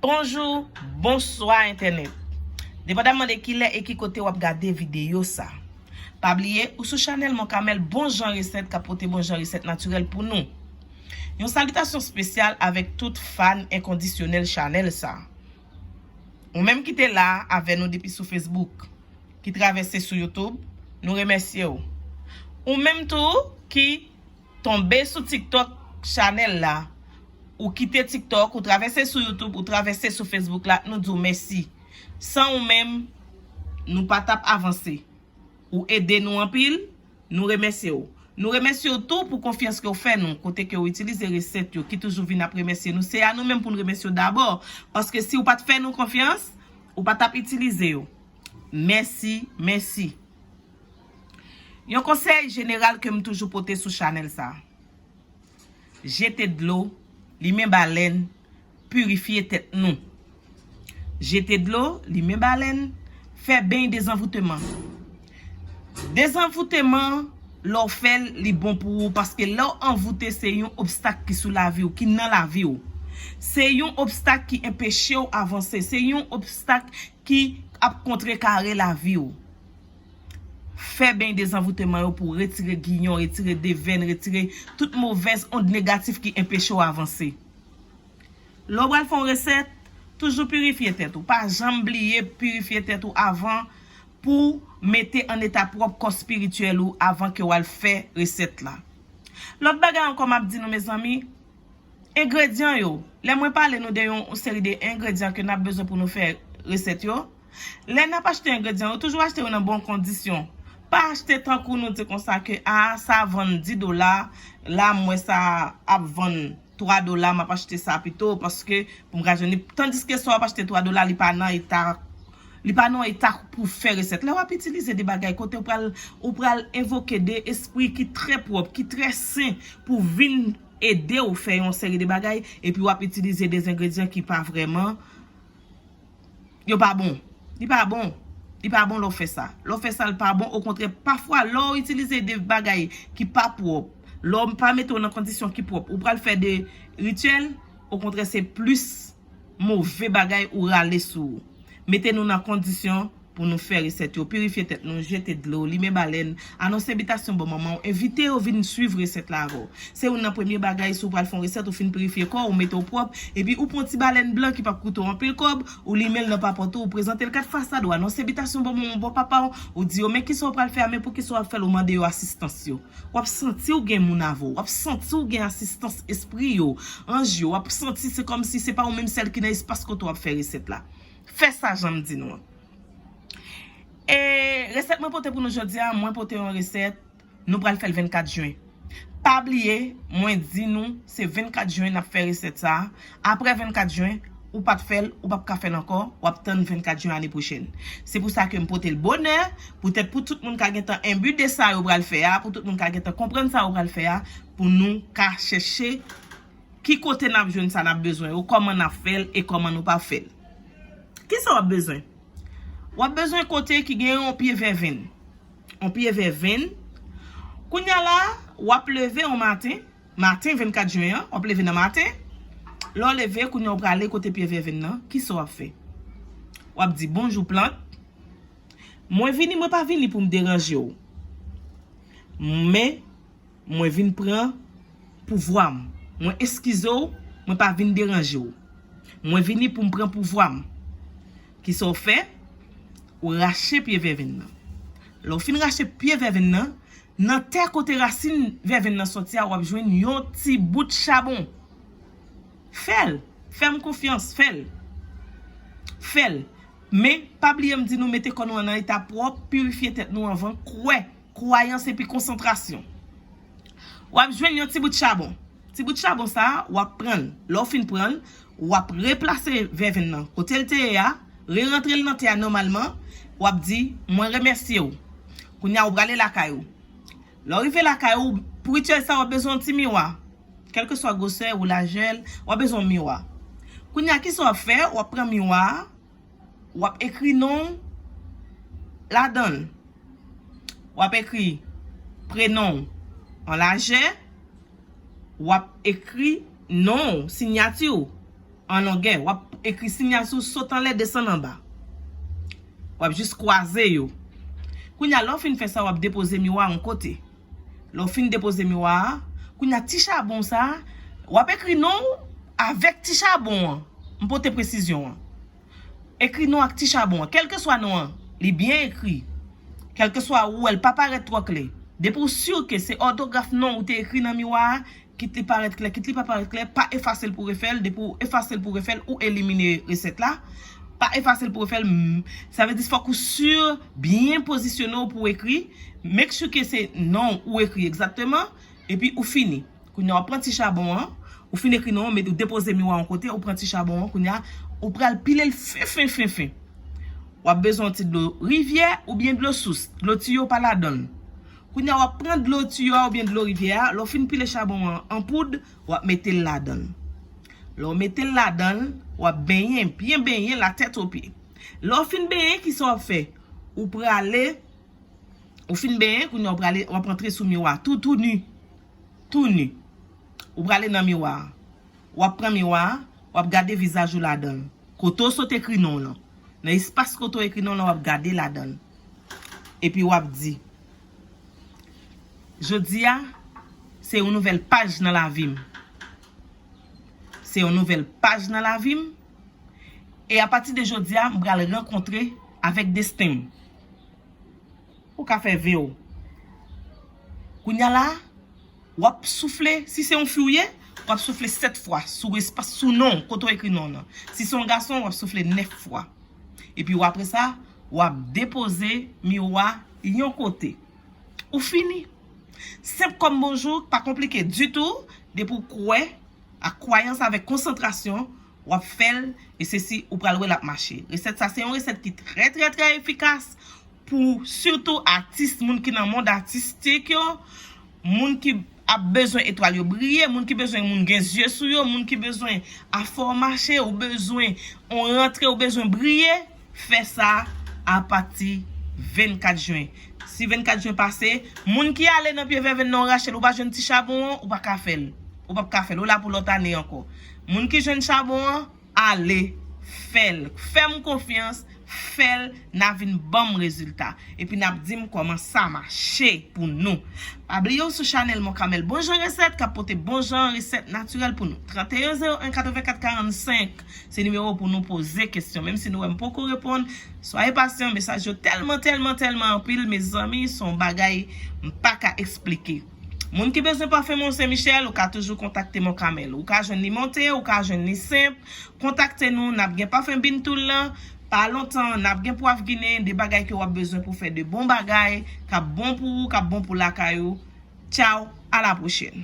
Bonjou, bonswa entènèt. Depandamman de kilè e ki kote wap gade videyo sa. Pa bliye ou sou chanèl Moncamel bon jan resèt kap pote bon jan resèt natirèl pou nou. Yon salitasyon spesyal avèk tout fan enkondisyonèl chanèl sa. Ou menm ki te la avè nou depi sou Facebook, ki travèse sou YouTube, nou remèsye ou. Ou menm tou ki tonbe sou TikTok chanèl la, ou kite TikTok, ou travèse sou YouTube, ou travèse sou Facebook la, nou di ou mèsi. San ou menm, nou pa t ap avanse. Ou ede nou anpil. Nou remèsye w. Nou remèsye w tou pou konfyans ke w fè nou, kote ke w itilize resèt yo, ki toujou vin ap remèsye nou. Se a nou menm pou n remèsye w dabò, paske si w pa t fè nou konfyans, ou pa t ap itilize yo. Mèsi, mèsi. Yon konsèy jeneral ke m toujou pote sou chanèl sa. Jete dlo, limen balèn, purifye tèt nou. Jete dlo, limen balèn, fè beny dezanvouteman. Dezanvouteman lè w fè l li bon pou ou paske lè w anvoute se yon obstak ki sou lavi w, ki nan lavi w. Se yon obstak ki enpeche w avanse, se yon obstak ki ap kontrekare lavi w. Fè beny dezanvouteman yo pou w retire giyon, retire devèn, retire tout movèz ond negatif ki enpeche w avanse. Lè w pral fè yon resèt, toujou pirifye tèt ou. Pa janm bliye pirifye tèt ou avan pou w mete an eta pwòp kò spirityèl ou avan ke w al fè resèt la. Lòt bagay ankò m ap di nou mezanmi, engredyan yo, lè mwen pale nou de yon seri de engredyan ke n ap bezwen pou nou fè resèt yo, Lè nap achte engredyan yo toujou achte yo nan bon kondisyon pa achte tankou nou di konsa ke a sa vann 10 dola la m wè sa ap vann 3 dola map achte sa pito paske pou m ka jwenn li tandiske sa wap achte 3 dola li pa nan eta li pa nan eta pou w fè resèt lè wap itilize de bagay kote ou pral ou pral evoke de espri ki trè pwòp ki trè sen pou vin ede w fè yon seri de bagay epi wap itilize de zengredyan ki pa vrèman Yo pa bon. Li pa bon. Li pa bon lè w fè sa. Lè w fè sa l pa bon. Okontrè, pafwa lè w itilize de bagay ki pa pwòp, lè w pa mete w nan kondisyon ki pwòp, ou pral fè de rityèl, okontrè se plis move bagay ou rale sou ou. Mete nou nan kondisyon. pou nou fè resèt yo, pirifye tèt nou, jete dlo, limen balèn, anonse bitasyon bon manman w, envite yo vin swiv resèt la avè w. Se youn nan premye bagay si w pral fè yon resèt, ou fin pirifye kò w, ou mete w pwòp, epi ou pran yon ti balèn blan ki p ap koute w anpil kòb, ou limen l nan papòt ou, ou prezante l kat fasad, ou anonse bitasyon bon manman w, bon papa w, ou di yo men kisa w pral fè a, men poukisa w ap fè l, ou mande yo asistans yo. W ap santi w gen moun avè w, w ap santi w gen asistans espri yo, anj yo, w ap santi se kòmsi se pa ou menm sèl ki nan espas kote w ap fè resèt la. Fè sa jan m di nou an. E resèt mwen pote pou nou jodi a, mwen pote yon resèt, nou pral fè l 24 jen. Pa bliye, mwen di nou se 24 jen n ap fè resèt sa a. Aprè 24 jen, ou pa t fè l, ou pap ka fè l ankò, w ap tann 24 jen ane pwochèn. Se pou sa ke m pote l bonè, poutèt pou tout moun ka gen tan enbi de sa yo pral fè a, pou tout moun ka gen tan konprann sa yo pral fè a, pou nou ka chèche. Ki kote n ap jwenn sa n ap bezwen yo, kòman n ap fè l e kòman nou pa fè l. Ki sa w ap bezwen? W ap bezwen kote ki gen yon pye vèvenn. Yon pye vèvenn. Kounye a la, w ap leve yon maten, maten 24 jen an, w ap leve nan maten. Lè w leve, kounye a w prale kote pye vèvenn nan, ki sa w ap fè? W ap di, Bonjou plant. Mwen vini, mwen pa vini pou m deranje w. Men. Mwen vin pran pouvwa m. Mwen eskize w, mwen pa vin deranje w. Mwen vini pou m pran pouvwa m. Kisa w fè? Ou rache pye vèvenn nan. Lè w fin rache pye vèvenn nan, nan tè kote rasin vèvenn nan soti a w ap jwenn yon ti bout chabon. Fè l! Fè m konfyans, fè l! Fè l! Men, pa bliye m di nou mete kò nou an nan eta pwòp, pirifye tèt nou anvan, kwè kwayans epi konsantrasyon. W ap jwenn yon ti bout chabon. Ti bout chabon sa a, w ap pran l. Lè w fin pran l, w ap replase vèvenn nan kote l te ye a, rerantre l nan tè a nòmalman. W ap di, Mwen remèsye ou. Kounye a, ou prale lakay ou. Lè w rive lakay ou, pou rityèl sa a, w ap bezwen yon ti miwa. Kèlkeswa gwosè ou lajè l, w ap bezwen yon miwa. Kounye a, ki sa w ap fè? W ap pran miwa a. w ap ekri non w ladan l. W ap ekri prenon w an lajè, w ap ekri non w, sinyati w, an longè. W ap ekri sinyati w sot anlè desann anba. W ap jis kwaze yo. Kounye a, lè w fin fè sa, w ap depoze miwa yon kote. Lè w fin depoze miwa a, kounye a ti chabon sa a, w ap ekri non ou avèk ti chabon an. M pote presizyon an. Ekri non ak ti chabon an. Kèlkeswa non an, li byen ekri. Kèlkeswa ou wè l pa parèt twò klè. Depi w si ke se òtograf non ou te ekri nan miwa a, Kit li parèt klè, kit li pa parèt klè, pa efase l pou refè l, depi w efase l pou refè l, ou elimine resèt la, pa efase l pou refè l, sa vle di fòk ou sur, byen pozisyone w pou w ekri, make sure ke se non w ou ekri egzakteman, epi ou fini. Kounye a w ap pran ti chabon an, ou fin ekri non w, ou depoze miwa yon kote, ou pran ti chabon an, kounye a ou pral pile l fen fen fen fen, w ap bezwen yon ti dlo rivyè oubyen dlo sous, dlo tiyo pa ladan l. Kounye a, w ap pran dlo tiyo a oubyen dlo rivyè a, lè w fin pile chabon an an poud, w ap mete l ladan l. Lè w mete l ladan l, w ap benyen, byen benyen la tèt o pye. Lè w fin benyen, ki sa w ap fè? Ou prale, ou fin benyen, kounye a w prale, w ap antre sou miwa a tou tou ni. Tou ni. Ou prale nan miwa a. W ap pran miwa a, w ap gade vizaj ou ladan l. Kote w sot ekri non w lan. Nan espas kote w ekri non w lan, w ap gade ladan l. Epi wap di. Jodi a, se yon nouvèl paj nan lavi m. Se yon nouvèl paj nan lavi m. E apati de jodi a, m pral rankontre avèk desten m. Ou ka fè ve w. Kounya la. Wap soufle, si se yon fi ou ye, wap soufle 7 fwa sou espas, sou non w, kote w ekri non w lan. Si se yon gason, wap soufle 9 fwa. Epi w apre sa, wap depoze miwo a yon kote. Ou fini. Senp kòm bonjou, pa konplike ditou, depi w kwè Ak kwayans avèk konsantrasyon wap fèl e se si ou pral wè lap mache. Resèt sa se yon resèt ki trè trè trè efikas pou sitou atis, moun ki nan mond atistik yo, moun ki ap bezwen etwal yo briye, moun ki bezwen moun gen zye sou yo, moun ki bezwen afò mache, ou bezwen on rantre ou bezwen briye. fè sa apati 24 jen. Si 24 jen pase, moun ki ale nan pye vèvenn nan ou rache l ou pa jwenn ti chabon an, ou pa ka fè l. Ou pap ka fè l. Ou la pou lòt ane ankò. Moun ki jwenn chabon an, ale fè l. Fè m konfyans, fè l, n a vin ban m rezilta. Epi n ap di m kòman sa mache pou nou. Pa bliye w sou chanèl Monkamèl Bonjan Resèt k ap pote bonjan resèt natirèl pou nou. 31 01 84 45 Se nimewo pou nou poze kesyon menm si nou wèm poko reponn soyez patient mesaj yo tèlman tèlman tèlman anpil mezanmi son bagay m paka esplike moun ki bezwen parfum mont saint Michel ou ka toujou kontakte mont camel ou ka jwenn li monte ou ka jwenn li senp kontakte nou nap gen parfum bintoul lan pa lontan nap gen pwav ginen de bagay ke wap bezwen pou fè de bon bagay kap bon pou ou kap bon pou lakay ou tchao a la prochèn.